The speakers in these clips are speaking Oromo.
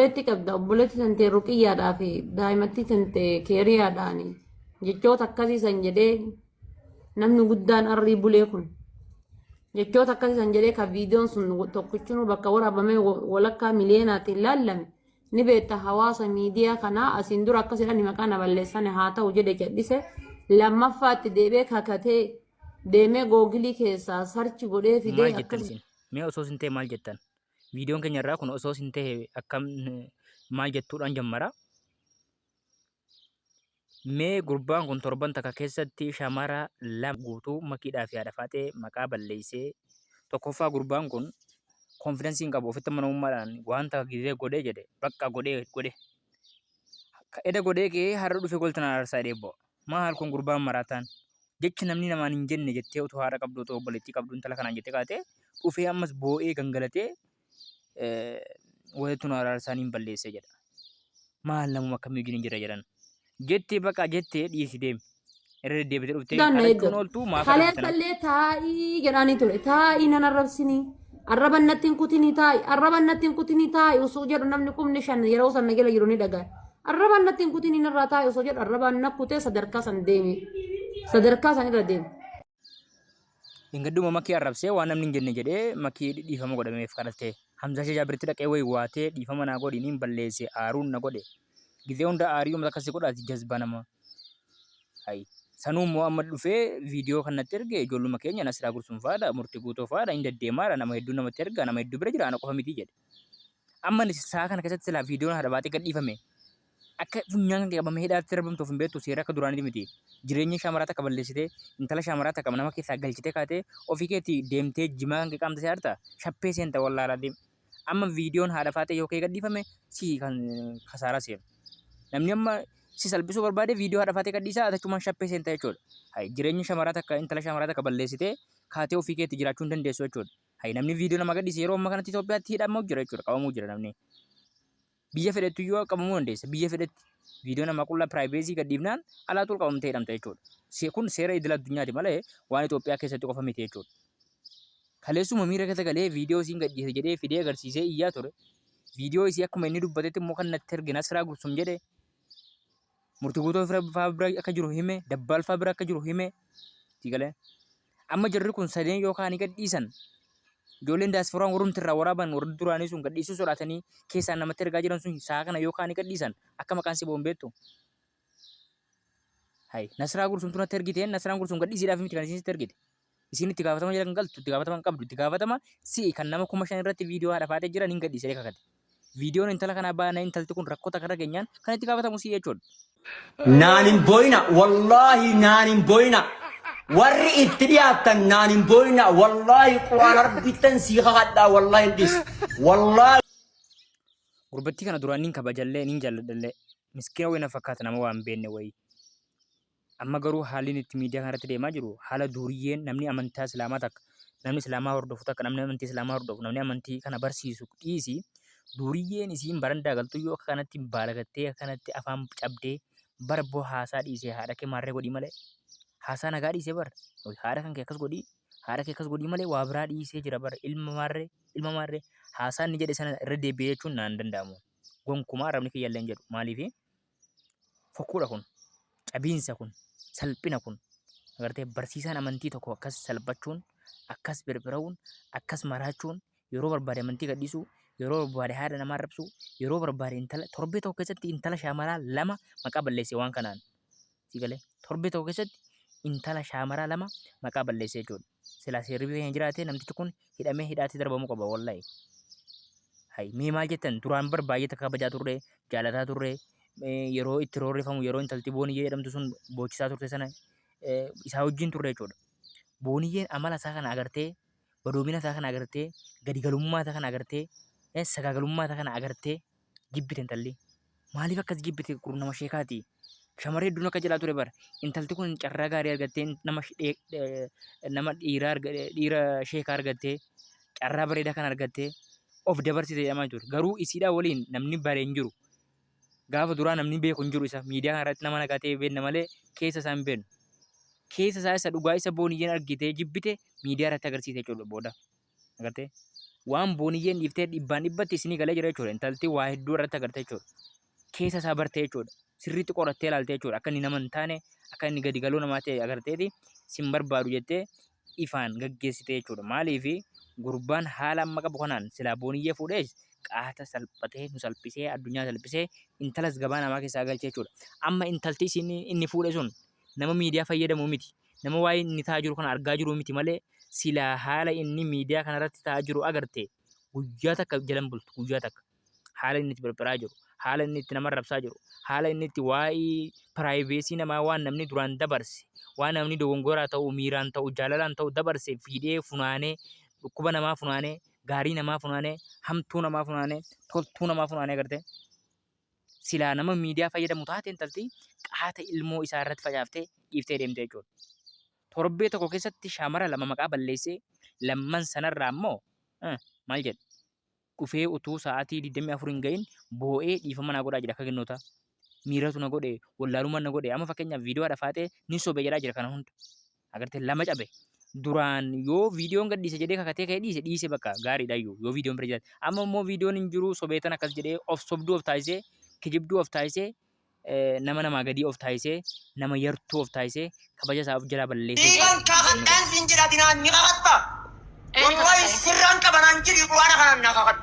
obboleetti qabda obboleetti tantee ruqiyyaadhaa fi daa'imattii tantee keeriyaadhaani jechoota akkasii san jedhee namni guddaan arrii bulee kun jechoota akkasii san jedhee kan viidiyoon sun tokkichinuu bakka waraabamee wa- walakkaa miliyeenaatiin laallame ni beekta hawaasa miidiyaa kanaa asiin dura akkas jedhani maqaa na balleessani haa ta'u jedhe jedhise lammaffaatti deebee kakatee deemee googilii keessaa sarchi godhee fidee maal jettan akkas isin mee osoo isin ta'e maal jettan Viidiyoon keenya irraa kun osoo sin ta'e akkam maal jettuudhaan jammara. Mee gurbaan kun torban takka keessatti shamara lama guutuu makiidhaa fi haadha faaxee maqaa balleessee tokkoffaa gurbaan kun konfidansii hin qabu ofitti amanamummaadhaan wanta gizee godhee jedhe bakka godhee godhe. Eda godhee kee har'a dhufe goltan aarsaa dheebboo. Maal kun gurbaan maraataan jecha namni namaan hin jenne jettee utuu haadha qabdu otoo obboleettii qabdu intala kanaan jettee kaatee dhufee ammas boo'ee gangalatee walitti nu araarsaa niin balleessee jedha. Maal namuma akkamii wajjin hin jira jedhan. Jettee baqaa jettee dhiisi deemi. Irra deddeebitee dhuftee Daan na kadhachuun eeggatu. ooltu maaf arrabsitan? Kaleessallee taa'ii jedhaanii ture. Taa'ii nan arrabsinii. Arraba natti hin kutinii taa'i. Arraba natti hin kutinii taa'i osoo jedhu namni kumni shan yeroo san na jala jiru ni dhaga'a. Arraba natti hin kutinii narraa taa'i osoo jedhu arraba na kutee sadarkaa san deeme. Sadarkaa san irra deeme. Ingadduma makii arrabsee waan namni hin jenne jedhee makii dhiifama godhameef kadhattee. Hamzaa ishee jaabirti dhaqee wayi waatee dhiifama naa godhi niin balleesse aaruun na godhe. Gizee hunda aarii uummata akkasii godhaati jazbaa nama. Hay. Sanuu immoo amma dhufee viidiyoo kan natti erge ijoolluma keenya Nasiraa Gursum fa'aadha, Murti Guutoo fa'aadha, hin deddeemaadha, nama hedduu namatti erga, nama hedduu bira jira, ana qofa miti jedhe. Amma ani sa'a kana keessatti silaa viidiyoon haadha baatee gadhiifame akka funyaan kan qabamee hidhaatti darbamtuuf hin beektu seera akka duraanii miti. Jireenya shaamaraa takka balleessitee intala shaamaraa takka nama keessaa galchitee kaatee ofii keetii deemtee jimaa kan qaamte si harta shappee seenta wallaalaa deema. Amma viidiyoon haadha faatee yoo kee gadhiifame si kan kasaaraa seenu. Namni amma si salphisuu barbaade viidiyoo haadha faatee gadhiisaa atachumaan shappee seenta jechuudha. Hay jireenya shamaraa takka intala shamaraa takka balleessitee kaatee ofii keetti jiraachuu hin dandeessu jechuudha. Hay namni viidiyoo nama gadhiise yeroo amma kanatti Itoophiyaatti hidhamuu jira jechuudha qabamuu jira namni. Biyya fedhettu iyyuu qabamuu dandeessa. Biyya fedhetti viidiyoo namaa qullaa piraayiveesii gadhiifnaan alaatu ol qabamtee hidhamta jechuudha. Kun seera idil addunyaati malee waan Itoophiyaa keessatti qofa miti jechuudha. Kaleessuma miira keessa galee viidiyoo isiin gadhiise jedhee fidee agarsiisee iyyaa ture. Viidiyoo isii akkuma inni dubbatetti immoo kan natti ergina siraa gursum jedhe. Murti guutuu faa bira akka jiru hime, dabbaal faa bira akka jiru hime. Tigalee. Amma jarri kun sadeen yoo kaanii gadhiisan ijoolleen daasforaan warrumti irraa waraaban warri duraanii sun gadhiisuu sodaatanii keessaan namatti ergaa jiran sun sa'a kana yoo kaanii gadhiisan akka maqaan si ba'uun beektu. Hay, Nasraa Gursumtu natti ergiteen Nasraan Gursum gadhiisiidhaaf miti kan isiin sitti ergite. Isiin itti gaafatama jala kan galtu itti gaafatama hin qabdu itti gaafatama si'i kan nama kuma shan irratti viidiyoo haadha faatee jiran hin gadhiisee kakate. Viidiyoon intala kanaa baana intalti kun rakkoo takka irra geenyaan kan itti gaafatamu si'i jechuudha. Naan hin booyina wallaahi naan hin booyina warri itti dhiyaattan naan hin booyina wallaahi quraan arbittan sii kakadhaa wallaahi hin dhis wallaahi Gurbattii kana duraan niin kabajallee niin jaalladhallee miskiina wayii na fakkaata nama waan beenne wayii. Amma garuu haalli inni itti miidiyaa kanarratti deemaa jiru haala duuriyyeen namni amantaa Islaamaa takka namni Islaamaa hordofu takka namni amantii Islaamaa hordofu namni amantii kana barsiisu dhiisi duuriyyeen isiin barandaa galtuu yoo akka kanatti baalagattee akka kanatti afaan cabdee bara boo haasaa dhiisee haadha kee maarree godhii malee haasaa nagaa dhiisee bara haadha kan kee akkas godhii haadha kee akkas godhii malee waa biraa dhiisee jira bara ilma maarree ilma maarree haasaa inni jedhe sana irra deebi'ee jechuun naan danda'amu gonkumaa arrabni kiyya illee hin jedhu maaliifi fokkuudha kun cabiinsa kun salphina kun agartee barsiisaan amantii tokko akkas salphachuun akkas birbira'uun akkas maraachuun yeroo barbaade amantii gadhiisuu yeroo barbaade haadha namaa rabsuu yeroo barbaade intala torbee tokko keessatti intala shaamaraa lama maqaa balleesse waan kanaan Sii galee? Torbee tokko keessatti intala shaamaraa lama maqaa balleessee jechuudha. Silaa seerri biyya keenya jiraatee namtichi kun hidhamee hidhaatti darbamuu qaba wallahi. Hayi mee maal jettan duraan bar baay'ee takka kabajaa turre jaalataa turre eh, yeroo itti roorrifamu yeroo intalti booniyyee jedhamtu sun boochisaa turte sana eh, isaa wajjin turre jechuudha. Booniyyeen amala isaa kana agartee badoomina isaa kana agartee gadigalummaa isaa kana agartee eh, sagaagalummaa isaa kana agartee jibbite intalli. Maaliif akkas jibbite qurun nama sheekaati. Shamarree hedduun akka jedhaa ture bara. Intalti kun carraa gaarii argattee nama sh- dhee- dhee- nama dhiira arga- dhiira sheeka argattee carraa bareedaa kan argattee of dabarsite jedhamaa ture. Garuu isiidhaa waliin namni bare hin jiru. Gaafa duraa namni beeku hin jiru isa miidiyaa kana irratti nama nagaa ta'e beekna malee keessa isaa hin beeknu. Keessa isaa isa dhugaa isa booniyyeen argitee jibbite miidiyaa irratti agarsiise jechuudha booda. Agartee? Waan booniyyeen dhiiftee dhibbaan dhibbatti isinii galee jira jechuudha. Intalti waa hedduu irratti agartee jechuudha. Keessa isaa bartee jechuudha. Sirriitti qorattee ilaaltee jechuudha. Akka inni nama hin taane, akka inni gadi galuu namaa ta'e agarteeti sin barbaadu jettee ifaan gaggeessite jechuudha. Maaliif gurbaan haala amma qabu kanaan silaa booniyyee fuudhee qaata salphatee nu salphisee addunyaa salphisee intalas gabaa namaa keessaa galchee jechuudha. Amma intalti isin inni fuudhe sun nama miidiyaa fayyadamu miti. Nama waa'ee inni ta'aa jiru kana argaa jiru miti malee silaa haala inni miidiyaa kanarratti ta'aa jiru agarte guyyaa takka jalan bultu guyyaa takka. Haala inni itti phirphiraa jiru, haala inni itti nama rabsaa jiru, haala inni itti waa'ee piraayiveesii namaa waan namni duraan dabarse, waan namni dogongoraa ta'u, miiraan ta'u, jaalalaan ta'u dabarse fiidhee funaanee dhukkuba namaa funaanee, gaarii namaa funaanee, hamtuu namaa funaanee, toltuu namaa funaanee agartee. silaa nama miidiyaa fayyadamu taate intalti qaata ilmoo isaa irratti facaaftee dhiiftee deemte jechuudha. Torbee tokko keessatti shaamara lama maqaa balleessee lamman sanarraa immoo maal jedha? Dhufee utuu sa'aatii 24 hin gahin boo'ee dhiifama naa godhaa jira akka kennoota. Miiratu na godhe, wallaalummaan na godhe. Amma fakkeenyaaf viidiyoo dhafaaxee ni sobe jedhaa jira kana hunda. Agartee lama cabe. Duraan yoo viidiyoon gadhiise jedhee kakatee ka'ee dhiise dhiise bakka gaariidha iyyuu yoo viidiyoon bira jiraate. Amma immoo viidiyoon hin jiru sobeetan akkas jedhee of sobduu of taasisee kijibduu of taasisee eh, nama namaa gadii of taasisee nama yartuu of taasisee kabaja isaa of jalaa balleessee Dhiiga hin kaafadhaan siin jedha dinaan ni kakatta. Wallahi sirraan qabanaan jedhi quraana kanaan na kakadhu.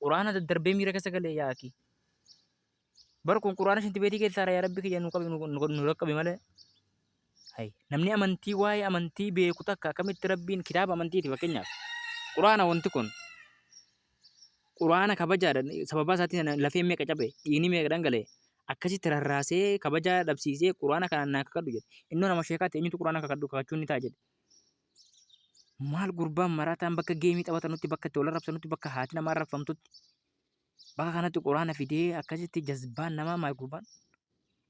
Quraana daddarbee miira keessa galee yaa akii. Bar kun quraana shintibeetii keessaadha yaa rabbi kiyya nu qabi nu raqqabi malee. Hay namni amantii waa'ee amantii beeku takka akkamitti rabbiin kitaaba amantiiti fakkeenyaaf. Quraana wanti kun quraana kabajaadha sababaa isaatiin lafeen meeqa cabe dhiigni meeqa dhangalee akkasitti rarraasee kabajaa dhabsiisee quraana kanaan naa kakadhu jedhe. Innoo nama sheekaatti eenyutu quraana kakadhu kakachuun ni ta'a jedhe. Maal gurbaan marataan bakka geemii taphatanutti bakka itti wal arrabsanutti bakka haati namaa arrabfamtutti bakka kanatti quraana fidee akkasitti jazbaan namaa maal gurbaan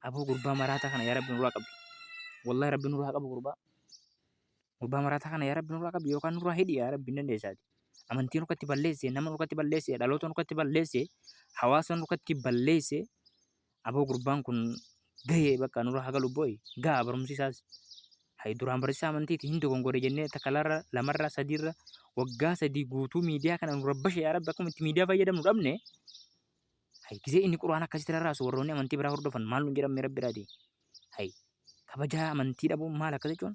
aboo gurbaa maraataa kana yaa rabbi nurraa qabi wallahi rabbi nurraa qabu gurbaa gurbaa maraataa kana yaa rabbi nurraa qabi yookaan nurraa hidhi yaa rabbi hin dandeessaati amantii nurkatti balleesse nama nurkatti balleesse dhaloota nurkatti balleesse hawaasa nurkatti balleesse Aboo gurbaan kun gahee bakka nurra hagalu boy gaha barumsi isaas hay duraan barsiisaa amantiiti hin dogongore jennee takalarra lamarra sadiirra waggaa sadii guutuu miidiyaa kana nu rabbashe yaa rabbi akkuma itti miidiyaa fayyadamnu dhabne hay gisee inni quraan akkasitti rarraasu warroonni amantii biraa hordofan maal nu jedhamne rabbi irraati hay kabajaa amantii dhabuun maal akka jechuun